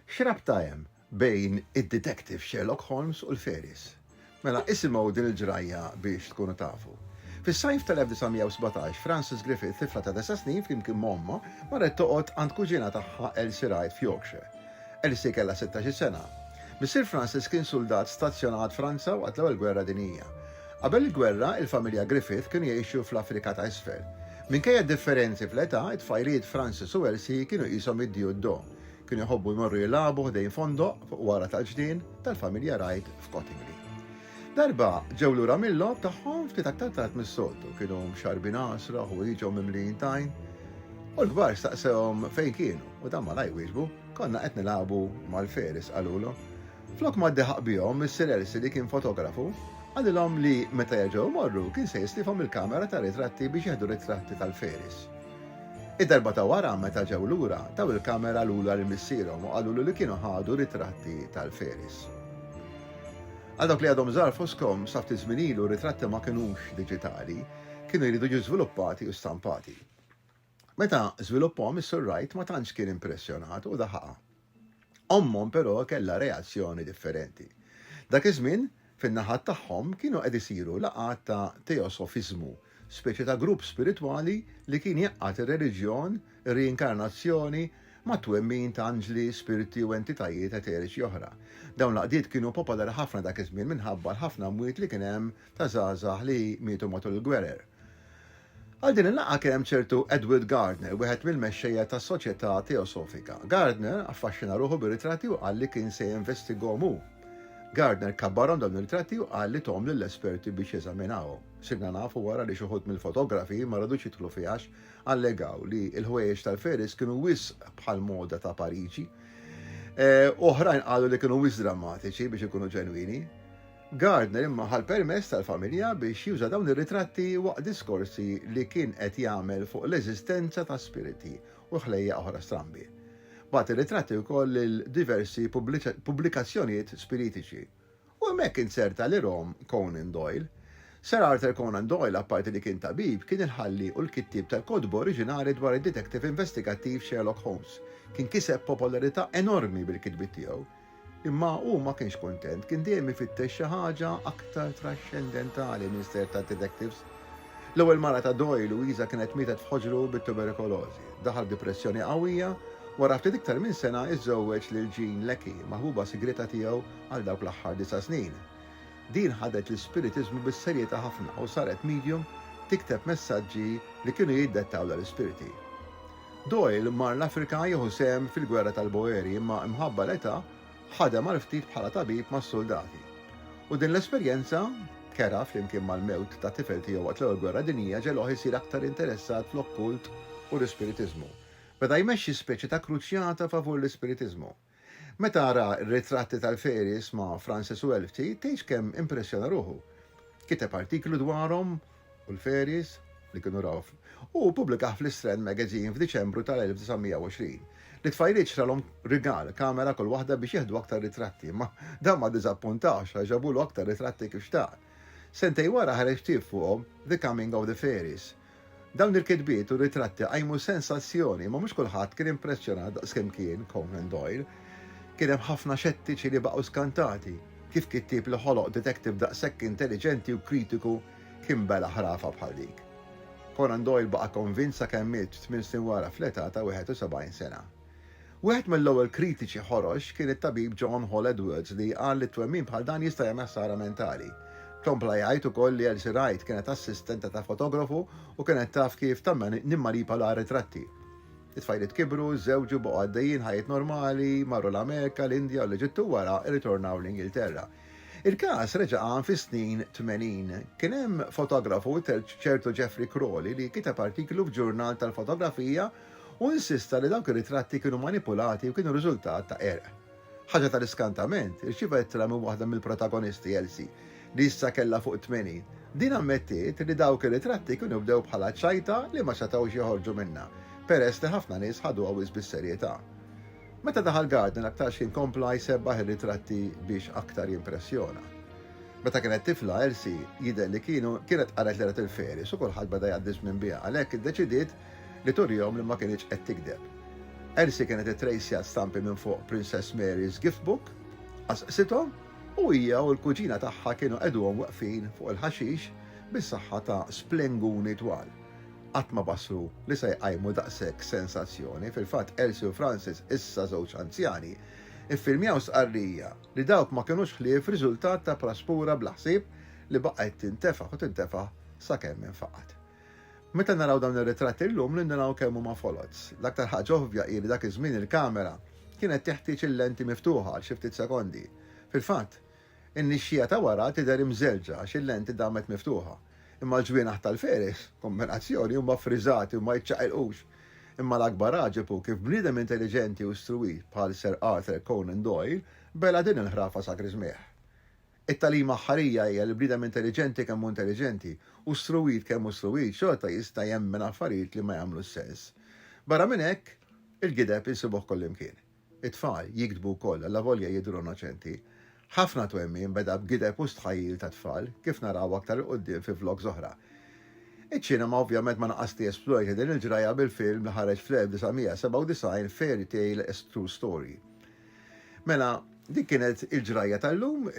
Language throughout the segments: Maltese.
X'rabta hemm bejn id-Detective Sherlock Holmes u l-Fairies? Mela isimgħu din il-ġrajja biex tkunu tafu. Fis-sajf tal-1917, Frances Griffith, tifla ta' disa' snin flimkien m'ommha, marret toqgħod għand kuġina tagħha Elsie Wright f'Yorkshire. Elsie kellha sittax-il sena. Missier Frances kien suldat stazzjonat Franza waqt l-Ewwel Gwerra Dinjija. Qabel il-gwerra, il-familja Griffith kienu jgħixu fl-Afrika ta' Isfel. Minkejja d-differenzi fl-età, it-tfajliet Francis u Elsie kienu qishom id-di u d-do. Kienu jħobbu jmorru jilagħbu ħdejn fondoq fuq wara tal-ġnien tal-familja Wright f'Cottingley. Darba ġew lura mil-logħob tagħhom ftit aktar tard mis-soltu. Kienu mxarrbin għasra, ħwieġhom mimlijin tajn, u l-kbar staqsewhom fejn kienu u dan malajr wieġbu, Konna qed nilagħbu mal-faeries, qalulu. Flok ma ddeħaq bihom, Missier Elsie li kien fotografu, qalilhom li meta jerġgħu jmorru kien se jislifhom il-kamera tar-ritratti biex jieħdu ritratti tal-Faeries. Id-darba ta' wara meta ġew lura, taw il-kamera lura lil missierhom u qalulu li kienu ħadu ritratti tal-Faeries. Għal dawk li għadhom żgħar fosthom, sa ftit żmien ilu ritratti ma kinux diġitali, kienu jridu jiġu żviluppati u stampati. Meta żviluppahom is-Sur Wright ma tantx kien impressjonat u daħaqha. Ommhom però kellha reazzjoni differenti. Dak iż-żmien, fin-naħat tagħhom kienu qed isiru laqgħat ta' teosofiżmu, speċi ta' grupp spiritwali li kien jgħaqqad ir-reliġjon, ir-riinkarnazzjoni, mat-twemmin ta' anġli, spirti u entitajiet eteriċi oħra. Dawn l-għaqdiet kienu popolari ħafna dak iż-żmien minħabba l-ħafna mwiet li kien hemm ta' żgħażagħ li mietu matul il-gwerer. Għal din il-laqgħa kien hemm ċertu Edward Gardner, wieħed mill-mexxejja tas-Soċjetà Teosofika. Gardner affaxxina ruħu bir-ritratti u qal li kien se jinvestigahom hu. Gardner kabbarhom dawn ir-ritratti u qal li tahom lill-esperti biex jeżaminawhom. Sirna nafu wara li xi wħud mill-fotografi ma radux jidħlu fih għax allegaw li l-ħwejjeġ tal-Ferris kienu wisq bħall-moda ta' Pariġi. Oħrajn qalu li kienu wisq drammatiċi biex ikunu ġenwini. Gardner imma ħa l-permess tal-familja biex juża dawn ir-ritratti waqt diskorsi li kien qed jagħmel fuq l-eżistenza ta' spiriti u ħlejjaq oħra strambi. Bagħat ir-ritratti wkoll lil diversi pubblikazzjonijiet spiritiċi. U hemmhekk inzerta l-erom Conan Doyle. Sir Arthur Conan Doyle apparti li kien tabib, kien il-ħalli u l-kittieb tal-kotba oriġinali dwar id-detektiv investigattiv Sherlock Holmes. Kien kiseb popolarità enormi bil-kitbiet tiegħu. Imma hu ma kienx kuntent, kien dejjem ifittex xi ħaġa aktar traxxendentali minn sterz ta' detectives. L-ewwel mara ta' Doyle, Louisa kienet mietet f'ħoġru bit-tuberikolożi. Daħal f'dipressjoni qawwija, wara ftit iktar minn sena iżżewweġ lil Jean Leckie, maħbuba sigrieta tiegħu għal dawk l-aħħar disa' snin. Din ħadet l-ispiritiżmu bis-serjetà ħafna u saret medium tikteb messaġġi li kienu jiddettaw dal-ispiriti. Doyle mar l-Afrika jieħu sehem fil-Gwerra tal-Boeri imma mħabba l-età ħadem għal ftit bħala tabib mas-suldati. U din l-esperjenza kerha flimkien mal-mewt ta' tifel tiegħu waqt l-Ewwel Gwerra Dinjija ġegħluh isir aktar interessat fl-okkult u l-ispiritiżmu. Beda jmexxi speċi ta' kruċjata favur l-ispiritiżmu. Meta ara r-ritratti tal-fairies ma' Frances u Elfty tgħidx kemm impressjona ruħu. Kiteb artiklu dwarhom u l-fairies li kienu raw u ppubblikah fl-Strand Magazine f'Diċembru tal-1920. Lit-tfajliet xralhom rigal, kamera kull waħda biex jieħdu aktar ritratti, imma dan ma ddiżappuntahx għax ġabulu aktar ritratti kif xtaq. Sentejn wara ħareġ ktieb fuqhom, The Coming of the Fairies, Dawn il-kitbiet u ritratti qajmu sensazzjoni, imma mhux kulħadd kien impressjonat daqskemm kien Conan Doyle. Kien hemm ħafna xettiċi li baqgħu skantati. Kif kittieb li ħoloq detektiv daqshekk intelliġenti u kritiku kien bela' ħrafa bħal dik? Conan Doyle baqa' konvint sakemm miet tmien snin wara fl-età ta' 71 sena. Wieħed mill-ewwel kritiċi ħorox kien it-tabib John Hall Edwards li qal li twemmin bħal dan jista' jagħmel ħsara mentali. Kompla jgħid ukoll li Elsie Wright kienet assistenta ta' fotografu u kienet taf kif nimmanipala r-ritratti. It-tfajliet kibru, żżewġu, baqgħu għaddejjin ħajjiet normali, marru l-Amerika, l-Indja u l-Eġittu u wara rritornaw l-Ingilterra. Il-każ reġa' qam fis-snin tmenin. Kien hemm fotografu, ċertu Geoffrey Crawley, li kiteb artiklu f'ġurnal tal-fotografija, u insista li dawk ir-ritratti kienu manipulati u kienu riżultat ta' qerq. Ħaġa tal-iskantament, irċieva ittra minn waħda mill-protagonisti, Elsie, li issa kellha fuq it-tmenin. Din ammettiet li dawk ir-ritratti kienu bdew bħala ċajta li ma setgħux joħorġu minnha, peress li ħafna nies ħaduha wisq bis-serjetà. Meta daħal Gardner aktarx kien kompla jsebbaħ ir-ritratti biex aktar jimpressjona. Meta kienet tifla, Elsie jidher li kienet qaret li rat il-fairies u kulħadd beda jgħaddi ż-żmien biha, għalhekk iddeċidiet li turihom li ma kinitx qed tigdeb. Elsie kienet ittrejsjat stampi minn fuq Princess Mary's Gift Book, qasqsithom u hija u l-kuġina tagħha kienu qegħduhom weqfin fuq il-ħaxix bis-saħħa ta' splenguni twal. Qatt ma bassru li se jqajmu daqshekk sensazzjoni, fil-fatt Elsie u Francis, issa żewġ anzjani, iffilmjaw stqarrija li dawk ma kinux ħlief riżultat ta' praspura bla ħsieb li baqgħet tintefaħ u tintefaħ sakemm infaqgħet. Meta naraw dawn ir-ritratti llum nindunw kemm huma foloz. L-aktar ħaġa ovvja hi li dak iż-żmien il-kamera kienet teħtieġ il-lenti miftuħa għal xi ftit sekondi. Fil-fatt, in-nixxija ta' wara tidher imżerrġa għax il-lenti damet miftuħa. Imma l-ġwienaħ tal-feris, kombinazzjoni, huma ffriżati u ma jiċċaqilqux. Imma l-akbar għaġeb hu kif bniedem intelliġenti u struwit bħal Sir Arthur Conan Doyle bela' din il-ħrafa sa griżmigħ. It-tagħlima aħħarija hija li bniedem intelliġenti kemm hu intelliġenti, u struwit kemm hu struwit, xorta jista' jemmen affarijiet li ma jagħmlux sens. Barra minn hekk, il-gideb insibuh kullimkien. It-tfal jigdbu wkoll, allavolja jidhru innoċenti. Ħafna twemmin beda b'gideb u stħajjil tat-tfal, kif naraw aktar 'il quddiem fi vlogs oħra. Iċ-ċinema ovvjament ma naqasx tiesplorja din il-ġrajja bil-film li ħareġ fl-1997 Fairy Tale, A True Story. Mela, dik kienet il-ġrajja tal-lum,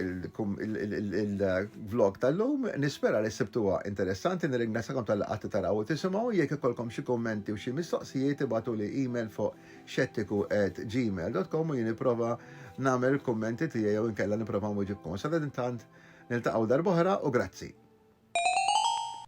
il-vlog tal-lum, nispera li sibtuha interessanti, nirringrazzakom tal-laqati taraw u tisimgħu, jekk ikolkom xi kummenti u xi mistoqsijiet ibatu li email fuq xettiku@gmail.com u jien nipprova nagħmel il-kummenti tiegħi jew inkella nipprova nwiġibkom. Sadan intant niltaqgħu darb'oħra u grazzi.